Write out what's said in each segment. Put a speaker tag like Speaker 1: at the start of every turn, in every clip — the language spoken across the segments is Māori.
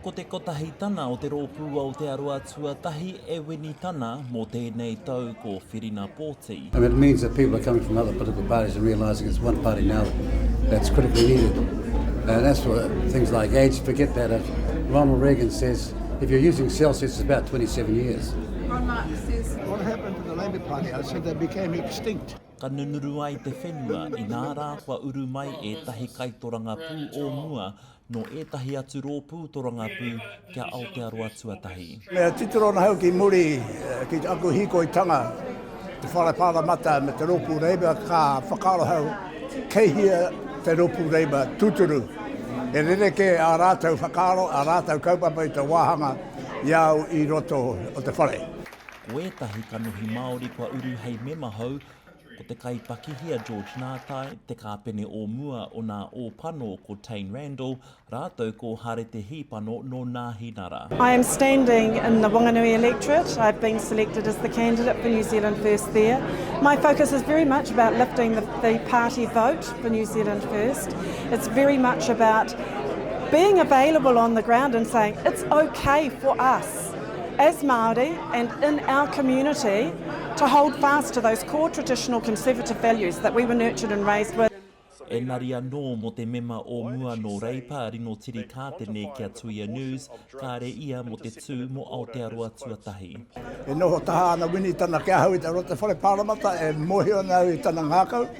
Speaker 1: Ko te kotahi tana o te Rōpū Aotearoa tuatahi e wini tana mō tēnei tau ko Whirina Pōti. And it means that people are coming from other political parties and realising it's one party now that's critically needed. And that's for things like aids, forget that. As Ronald Reagan says, if you're using Celsius, it's about 27 years. Karl Marx says, What happened to the Labour Party? I said they became extinct. Ka nunuru ai te whenua, inā rā kua uru mai ētahi kaitorangapū o mua nō ētahi atu rōpū torangapū ki a Aotearoa tuatahi. Me titiro ana hau ki muri ki aku hīkoitanga te Whare Pāremata me te Rōpū Reiba ka whakaaro hau kei hea te rōpū reiba tūturu. He rerekē ā rātou whakaaro, ā rātou kaupapa i te wāhanga i a au i roto o te whare. Ko ētahi kanohi Māori kua uru hei mema hou, Ko te kaipakihi a George Nātai, te kāpene o mua o nā Ōpano ko Tane Randall rātou ko Hare Te Hīpano nō Nāhinara. I am standing in the Wanganui electorate. I've been selected as the candidate for New Zealand First there. My focus is very much about lifting the, the party vote for New Zealand First. It's very much about being available on the ground and saying it's okay for us. as Māori and in our community to hold fast to those core traditional conservative values that we were nurtured and raised with. Engari anō mō te mema o mua nō Reipa Rino Tiri Kātene ki a Tuia News, kāre ia mō te tū mō Aotearoa Tuatahi. E noho taha ana Wini tana ki ahau i te Roto Whare Pāremata, e mōhio ana au i tana ngākau.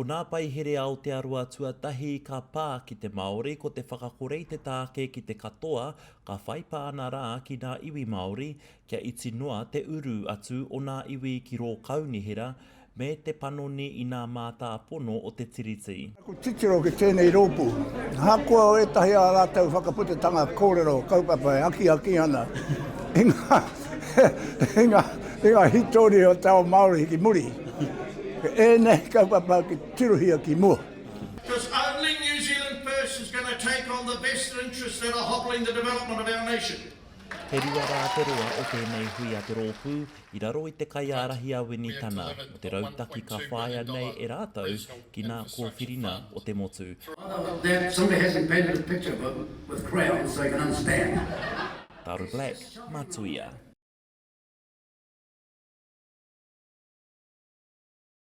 Speaker 1: Ko nā Paihere Aotearoa tuatahi ka pā ki te Māori ko te whakakore i te tāke ki te katoa ka whai pāna rā ki nā iwi Māori kia iti noa te uru atu o nā iwi ki rō kaunihera me te panoni i nā mātāpono o te Tiriti. Ko titiro ki tēnei rōpū, ahakoa ētahi ā rātou whakaputatanga kōrero kaupapa e akiaki ana i ngā. i ngā, i ngā hītori o te ao Māori ki muri. Ēnei kaupapa ki tirohia ki mua. Because only New Zealand first is going to take on the vested interests that are hobbling the development of our nation. He rua rā te roa o tēnei hui a te rōpū i raro i te kaiārahi a Wini Tana mō te rautaki ka whāia nei e rātou ki nā kōwhiringa o te motu. Barbara Black, ma Tuia.